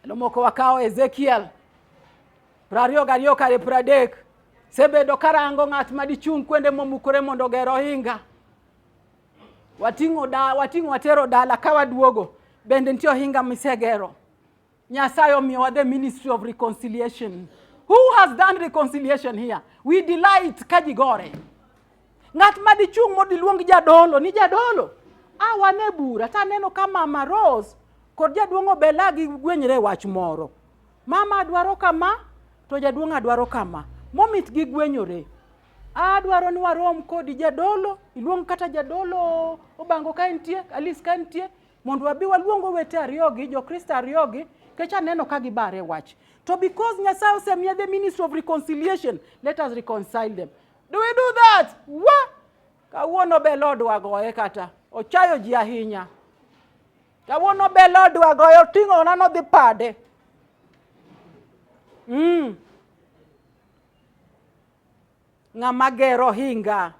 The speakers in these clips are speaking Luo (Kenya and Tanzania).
lomoko wakawo ezekiel prariyo gariyo kare pradek sebedo karango ng'at ma dichung' kwende momukore mondo oger ohinga wating'o da wating'o watero dala ka waduogo bende nitie ohinga misegero nyasaye omiyowa the ministry of reconciliation who has done reconciliation here we delight ka ji gore Ng'at ma dichung' mondo iluong jadolo ni jadolo, a wane bura to aneno ka mama Rose kod jaduong' Obela gigwenyre e wach moro. Mama adwaro kama to jaduong' adwaro kama. Momit gigwenyore. Adwaro ni warom kodi jadolo, iluong kata jadolo Obango ka entie, Alice ka entie, mondo wabi waluong owete ariyogi, Jokristo ariyogi, kech aneno ka gibare wach. To because Nyasaye osemiye the ministry of reconciliation, let us reconcile them. Do we do that? Wa! Kawuono be lodwa goye kata. Ochayo ji ahinya. Kawuono be lodwa goye oting'o na nodhi pade. Mm. Ng'ama gero hinga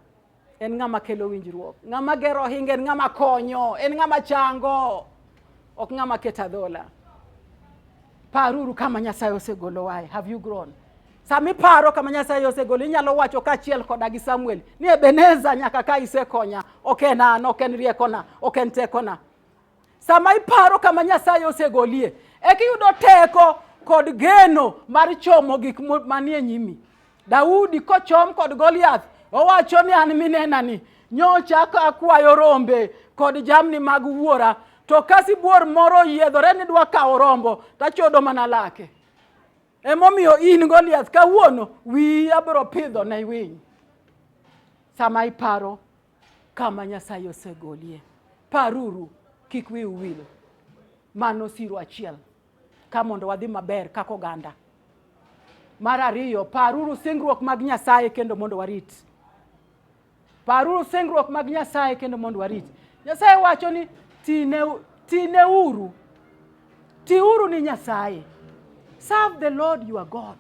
en ng'ama kelo winjruok. Ng'ama gero hinga en ng'ama konyo, en ng'ama chango, ok ng'ama keta dhola. Paruru kama Nyasaye osegolowae. Have you grown? Sama iparo kama Nyasaye osegoli, inyalo wacho kaachiel koda gi Samuel ni Ebeneza, nyaka ka isekonya, ok en an, ok en riekona, ok en tekona. Sama iparo kama Nyasaye osegolie, eka iyudo teko kod geno mar chomo gik manie nyimi. Daudi kochom kod Goliath, owacho ni an minenani, nyocha akwayo rombe kod jamni mag wuora, to ka sibuor moro oyiedhore ni dwa kawo rombo, tachodo mana lake. Emomiyo in Goliath kawuono wiyi abiro pidho ne winy. Sama iparo kama Nyasaye osegolie, paruru kik wi uwil. Mano siro achiel ka mondo wadhi maber kaka oganda. Mar ariyo, paruru singruok mag Nyasaye kendo mondo warit. Paruru singruok mag Nyasaye kendo mondo warit. Nyasaye wacho ni tineuru, tiuru ni Nyasaye. Serve the Lord your God.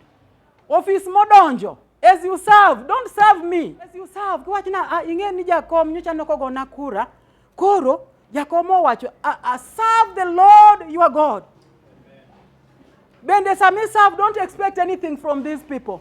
Ofis modonjo as you serve, don't serve me. As you serve, kiwacho na ah, ing'e ni jakom nyocha nokogona kura. Koro jakom owacho ah, ah, serve the Lord your God. Bende sami serve, don't expect anything from these people.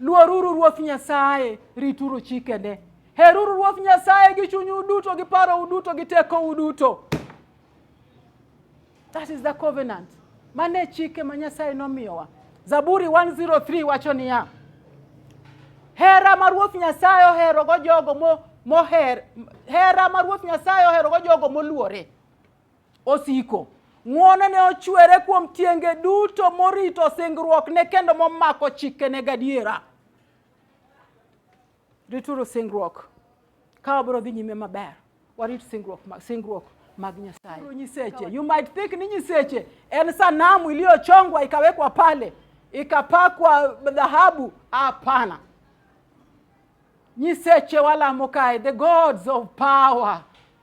Luoruru Ruoth Nyasaye, rituru chikene. Heruru Ruoth Nyasaye gi chunyu duto, gi parou duto, gi tekou duto. That is the covenant. Mano e chike ma Nyasaye nomiyowa. Zaburi 103 wacho niya, hera ma Ruoth Nyasaye oherogo jogo moher, hera ma Ruoth Nyasaye oherogo jogo moluore. Osiko. Ng'wonone ochwere kuom tienge duto morito singruokne kendo momako chikene gadiera. Rituru singruok ka wabiro dhi nyime maber. Warit singruok, singruok mag Nyasaye. Nyiseche. You might think ni nyiseche en sanamu iliyochongwa ikawekwa pale ikapakwa dhahabu. Hapana, nyiseche walamo kae, the gods of power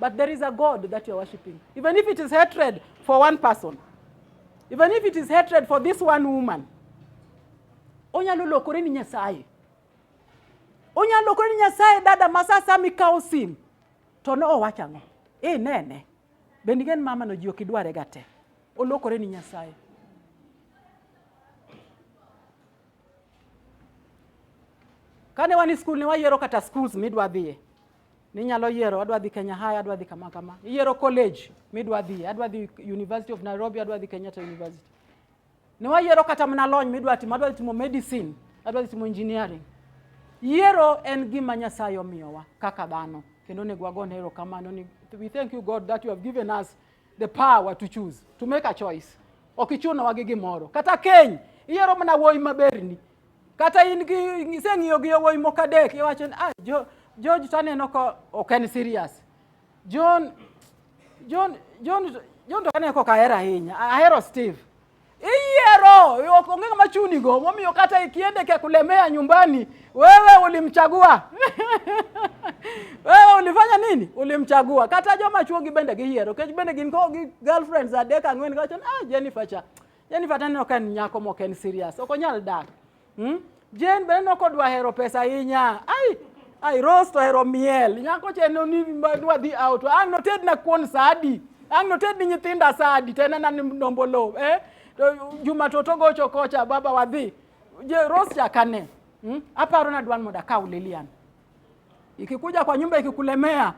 But there is a God that you are worshiping. Even if it is hatred for one person, even if it is hatred for this one woman, onyalo lokore ni Nyasaye. Onyalo lokore ni Nyasaye dada masasa mikawo sim to ne owacho ang'o? Eh nene. Bende gen mama no ji ok idware ga te. Olokore ni Nyasaye. Kane wan e skul ne wayiero kata schools midwa dhiye. Ninyalo yiero adwa dhi Kenya High, adwa dhi kama kama. Iyiero college midwa dhi, adwa dhi University of Nairobi, adwa dhi Kenyatta University. Ne wayiero kata mana lony midwa timo, adwa timo medicine, adwa timo engineering. Yiero en gima Nyasaye omiyowa kaka dhano kendo onego wagone erokamano ni we thank you God that you have given us the power to choose to make a choice. Ok ichunowa gi gimoro kata keny iyiero mana wuoyi maberni Kata in gi iseng'iyo gi yawuoyi moko adek iwacho ni ah jo George to aneno ka ok en serious. John John John John to aneno ka ok ahero ahinya. Ahero Steve. Iyiero ok onge ng'ama chunigo momiyo kata ikiende kia kulemea nyumbani wewe ulimchagua wewe ulifanya nini ulimchagua kata joma chuo gi bende giyiero kech bende gin ko gi girlfriends adek ang'wen kawacho ah Jennifer cha Yaani Fata neno ka en nyako mok en serious. Ok onyal dak. Hmm? Jane be neno kodwa hero pesa ahinya. Ai, ai Rose to hero miel. Nyako che no ni dwa dhi out. Ang' noted na kuon sadi. Ang' noted ni nyithinda sadi. Tena na ndombolo. Eh? To Juma to to gocho kocha baba wadhi. Je Rose chakane. Hmm? Aparo na dwan moda kaw Lilian. Ikikuja kwa nyumba ikikulemea,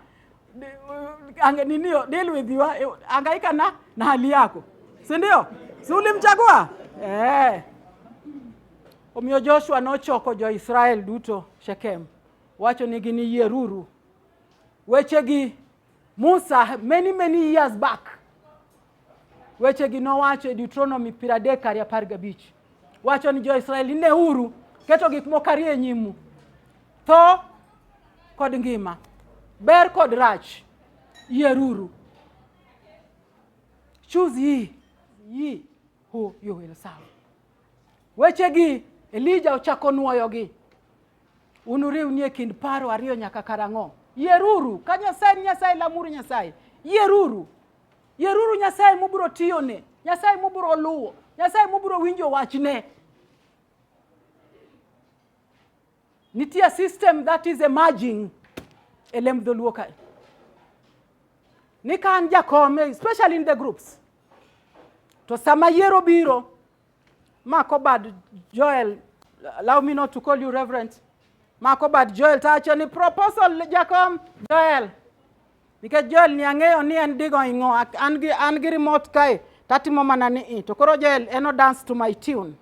ange ninio deal with you, eh, angaika na na hali yako, si ndio? Si ulimchagua eh? Omiyo Joshua nochoko jo-Israel duto Shekem, wacho nigi ni yieruru wechegi Musa many many years back wechegi nowacho e Deuteronomy piero adek ariyo apar gabich wacho ni jo-Israel ineuru keto gik moko ariyo e nyimu tho kod ngima ber kod rach yieruru choose ye ye who you will serve wechegi Elija ochako nwoyogi Unuriwni e kind paro ariyo nyaka karang'o? Yieruru ka Nyasaye ni Nyasaye, lamuru Nyasaye. Yieruru, yieruru Nyasaye mubiro tiyone, Nyasaye mubiro luwo, Nyasaye mubiro winjo wachne. Nitie system that is emerging e lemb dholuo kae ni ka an jakom especially in the groups to sama yiero biro Makobad Joel, allow me not to call you Reverend. Makobad Joel tacho ni proposal jakom Joel. Nikech Joel ni ang'eyo ni en digo ing'o, an gi an gi remote kae tatimo mana ni i. To koro Joel eno dance to my tune.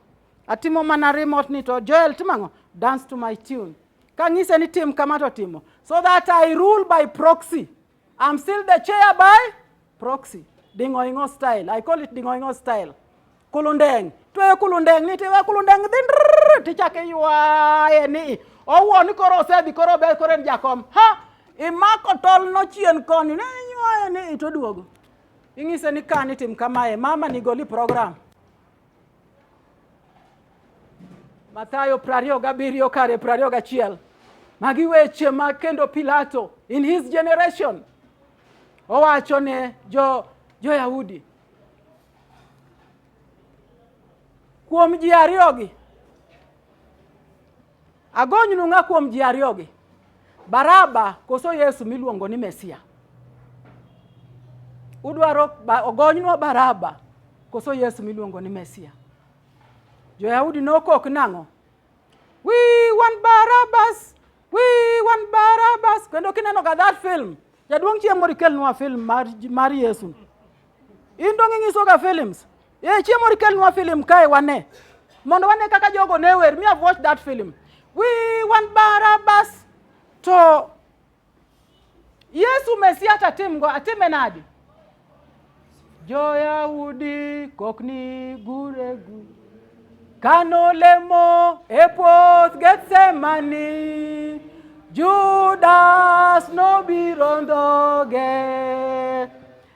Atimo mana remote ni to Joel timang'o dance to my tune. Kang'ise ni tim kama to timo. So that I rule by proxy. I'm still the chair by proxy. Dingoingo style. I call it dingoingo style. Kulundeng. Twe kulundeng ni tiwe kulundeng dhin tichake ywaye ni. Owuo ni koro osedhi koro obe koro en jakom. Ha! Imako tol no chien koni ne ywaye ni itoduogo. Ing'ise ni kani tim kamae mama ni goli program. Mathayo prario gabirio kare prario gachiel magi weche ma kendo Pilato in his generation owacho ne jo jo-Yahudi kuom ji ariyogi Agonynu ng'a kuom ji ariyogi, Baraba koso Yesu miluongo ni Mesia? Udwaro ogonynwa Baraba koso Yesu miluongo ni Mesia? Jo-Yahudi nokok nang'o? We want Barabbas! We want Barabbas! Kendo kinenoga that film, jaduong' chieng' moro ikelnwa film mar, mar Yesu. In dong' inyisoga films. Eh, chiemo rikelnwa film kae wane. Mondo wane kaka jogo ne wer. Me have watched that film. We want Barabbas to Yesu Mesia tatimgo atime nadi? Jo-Yahudi kokni guregu kano lemo e puoth Gethsemane Judas nobiro ndhoge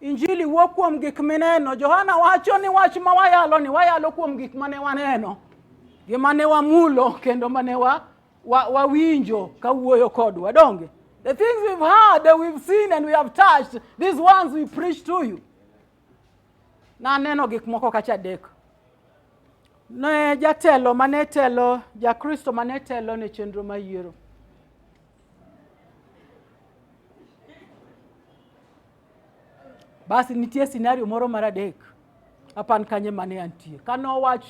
Injili wuo kuom gik mineno. Johana wacho ni wach ma wayalo ni wayalo kuom gik mane waneno, gi mane wamulo kendo mane wa, wa, wawinjo ka wuoyo kodwa donge. The things we've heard, that we've seen and we have touched, these ones we preach to you. Na neno gik moko kacha dek. Ne jatelo mane telo, Jakristo mane telo ne chenro ma yiero. Basi nitie scenario moro mar adek apan kanye mane antie kane owach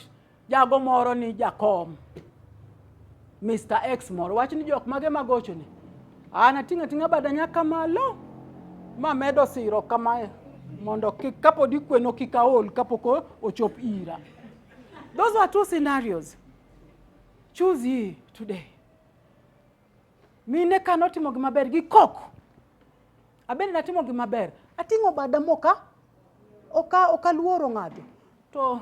jago moro ni jakom Mr. X moro wach ni jok mage magocho ni an ating'a ting'a bada nyaka malo ma medo siro kamae mondo kik kapod ikweno kik aol kapok ochop ira those were two scenarios choose ye today mine kane otimo gimaber gi koko Abende natimo gima ber. Ating'o bada moka oka okaluoro ng'ato. To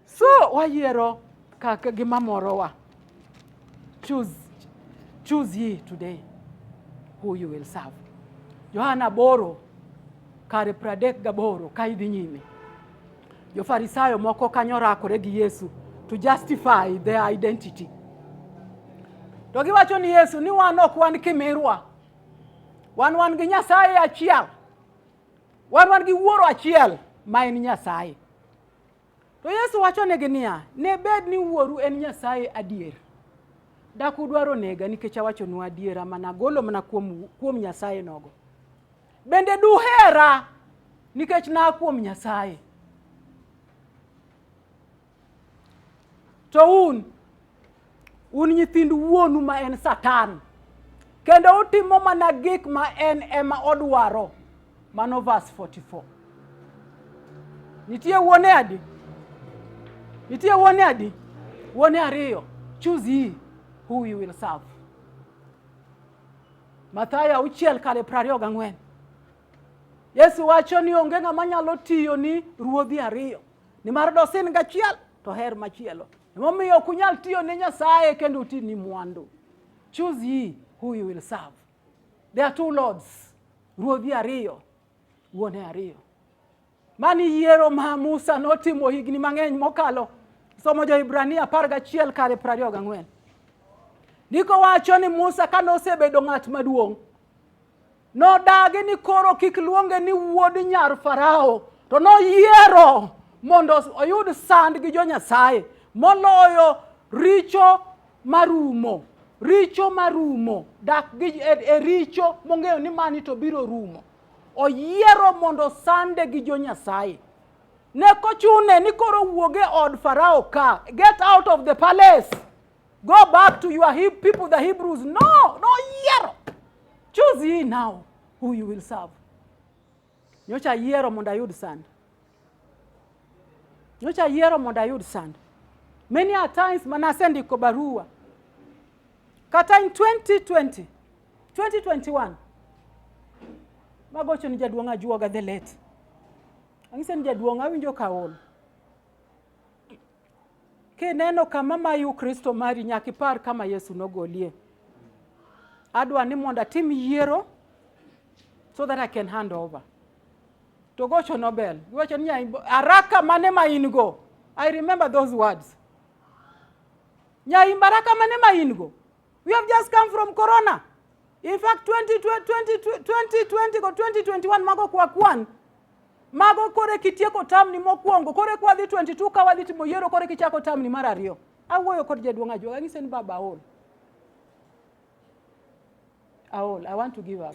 so wayiero kaka gima morowa. Choose choose ye today who you will serve. Yohana Boro kare pradek gaboro ka idhi nyime. Jofarisayo moko kanyo rakore gi Yesu to justify their identity. To giwacho ni Yesu ni wan ok wan kimirwa. Wan wan gi Nyasaye achiel. Wan wan gi wuoro achiel ma en Nyasaye. To Yesu wacho negi niya, ne bed ni wuoru en Nyasaye adier. Dak udwaro nega nikech awachonu adiera mana golo mana kuom, kuom Nyasaye nogo. Bende duhera nikech naa kuom Nyasaye. To un, un nyithind wuonu ma en Satan, kendo utimo mana gik ma en ema odwaro. Mano verse 44. Nitie wuone adi? Nitie wuone adi? Wuone ariyo. Choose ye who you will serve. Mathayo auchiel kare piero ariyo gang'wen. Yesu wacho ni onge ng'ama nyalo tiyo ni ruodhi ariyo, nimar dosin gachiel to her machielo. Emomiyo ok unyal tiyo ne Nyasaye kendo uti ni mwandu. Choose ye who you will serve. There are two lords, ruodhi ariyo, wuone ariyo. Mani yiero ma Musa notimo higni mang'eny mokalo. Somo Jo-Hibrania apar gachiel kare piero ariyo gang'wen. Ndiko wacho ni Musa kane osebedo ng'at maduong' nodagi ni koro kik luonge ni wuod nyar Farao to noyiero mondo oyud sand gi jo-Nyasaye moloyo richo marumo richo marumo dak gi e, e richo mong'eyo ni mani to biro rumo Oyiero mondo sande gi jo Nyasaye. Ne kochune ni koro wuog e od Farao ka. Get out of the palace. Go back to your Heb- people, the Hebrews. No, no yiero. Choose ye now who you will serve. Nyocha ayiero mondo ayud sand. Nyocha ayiero mondo ayud sand. Many a times manasendiko barua. Kata in 2020 2021 magocho ni jaduong' ajuoga the late ang'ise ni jaduong' awinjo kaol kineno kama mayu kristo mari nyaka ipar kama yesu nogolie adwa ni mondo atim yiero so that i can hand over to gocho nobel iwacho ni araka mane ma in go i remember those words nyaimbaraka mane ma in go We have just come from corona. In fact 2020 2020 go 2021 mago kwa kwan. Mago kore kitieko tam ni mokwongo, kore kwa dhi 22 ka wadhi timo yiero kore kichako tam ni mar ariyo. Awuoyo kod jaduong' ajuoga ng'ise ni baba aol. Aol, I want to give up.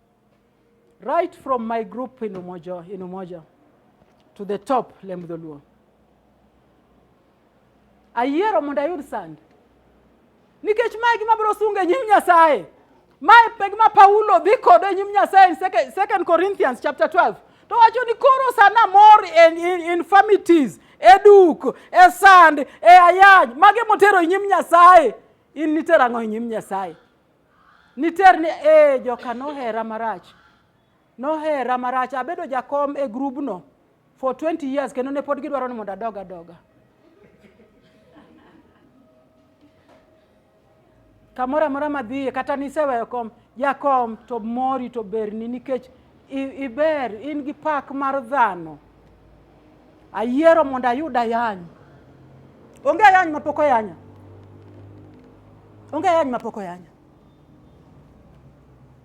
Right from my group in Umoja, in Umoja to the top Lem Dholuo. Ayiero mondo ayud sand nikech mae gima biro sungo e nyim Nyasaye. Mae pe gima Paulo dhi kodo e nyim Nyasaye in second Corinthians chapter 12 to wacho ni koro sana mor in, in, infirmities e duk e sand e ayany mage motero e nyim Nyasaye in nitero ang'o e nyim Nyasaye Niter ni ee joka nohera marach. Nohera marach. Abedo jakom e grubno for 20 years kendo ne pod gidwaro ni mondo adog adoga. Kamoro amora madhiye kata niseweyo kom, jakom to mori to berni nikech iber in gi pak mar dhano. Ayiero mondo ayud ayany. Onge ayany mapok oyanya. Onge ayany mapok oyanya.